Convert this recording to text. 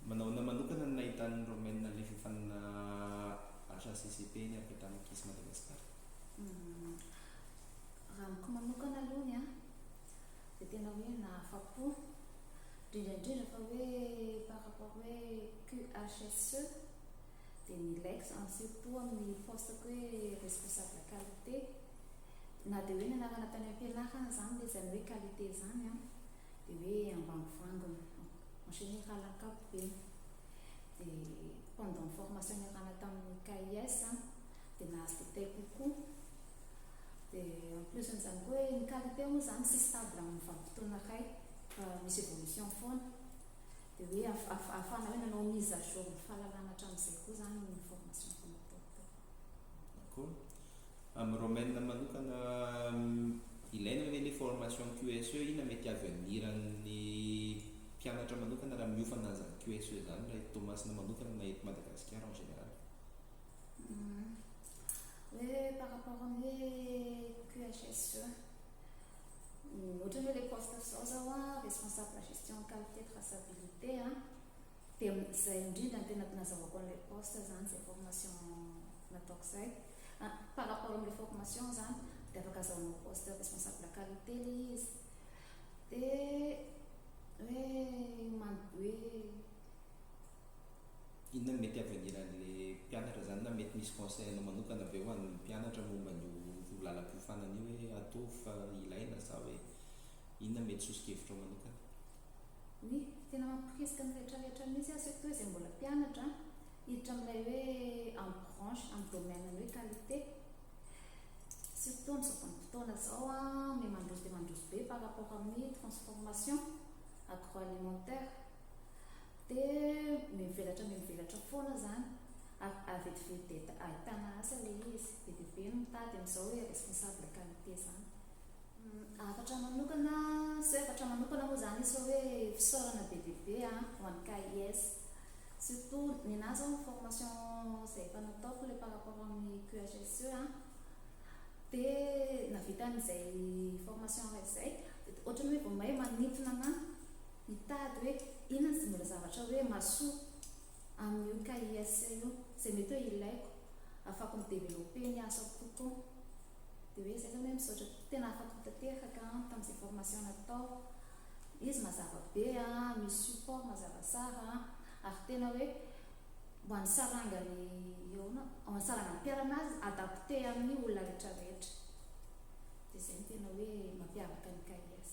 Manao ahoana manokana no nahitan'ny Romaine ny lefafanina HACCP eny avy hatrany Kiss Madagascar? Raha amiko manokana aloha ny ahy dia tena hoe nahafa-po, indrindra indrindra fa hoe par rapport hoe QHSE dia ny lex en surtout amin'ny poste ko hoe responsable qualité, na dia hoe ny anarana tany am-pianarana izany ilay izany hoe qualité izany an, dia hoe ambangovangony ohatran'ny hoe halak'ampy be dia pendant ny formation niarahana tamin'ny KIS an dia nahazo detail kokoa dia en plus an'izany koa hoe ny qualité moa izany tsy stable amin'ny vanim-potoana iray fa misy évolution foana dia hoe ahafahana hoe nanao mise à jour ny fahalalana hatramin'izay koa izany ny formation fanaparitaka Koa amin'ny Romaine manokana ilaina ve ilay formation QSE? Inona mety avenir an'ny mpianatra manokana raha miofana an'izany QSE izany raha eto Toamasina manokana na eto Madagasikara en général? Hoe par rapport amin'ny hoe QHSE, ohatra hoe ilay poste zao zaho an, responsable gestion qualité traçabilité an. Dia izay indrindra no tena nazahoako an'ilay post izany, izay formation nataoko izay. Par rapport amin'ilay formation izany dia afaka azahoanao poste responsable qualité ilay izy. Dia hoe. Inona no mety avenir an'ilay mpianatra izany na mety misy conseil anao manokana ve ho an'ny mpianatra momba an'io lalam-piofanana io hoe ataovy fa ilaina sa hoe inona mety soso-kevitrao manokana? Oui, tena mampitokisika ny rehetra rehetra mihintsy aho surtout izay mbola mpianatra an, hiditra amin'ilay hoe en branche amin'ny domaine ny hoe qualité, surtout amin'izao vanim-potoana izao an, me mandroso dia mandroso be par rapport amin'ny transformation agroalimentaire, dia mivelatra mivelatra foana izany, ary à vetivety dia ahitana asa ilay izy, be dia be ny mitady amin'izao hoe responsable qualité izany. Hafatra manokana, tsy hoe hafatra manokana moa izany izy fa hoe fisaorana be dia be ho an'ny KIS. Surtout nenà izao ny formation izay efa nataoko ilay par rapport amin'ny QHSE an, dia nahavita an'izay formation iray izay dia ohatran'ny hoe vao may manintona anà hitady hoe inona izay mbola zavatra hoe mahasoa amin'io KIS io izay mety hoe ilaiko, ahafahako mi-developper ny asako kokoa. Dia hoe izay zany hoe misaotra tena afa-po tanteraka tamin'izay formation natao, izy mazava be an, misy support mazava tsara an, ary tena hoe ho an'ny sarangan'ny ahoana, ho an'ny sarangan'ny mpiharana azy adapté amin'ny olona rehetra rehetra. Dia izay no tena hoe mampiavaka ny CAIS.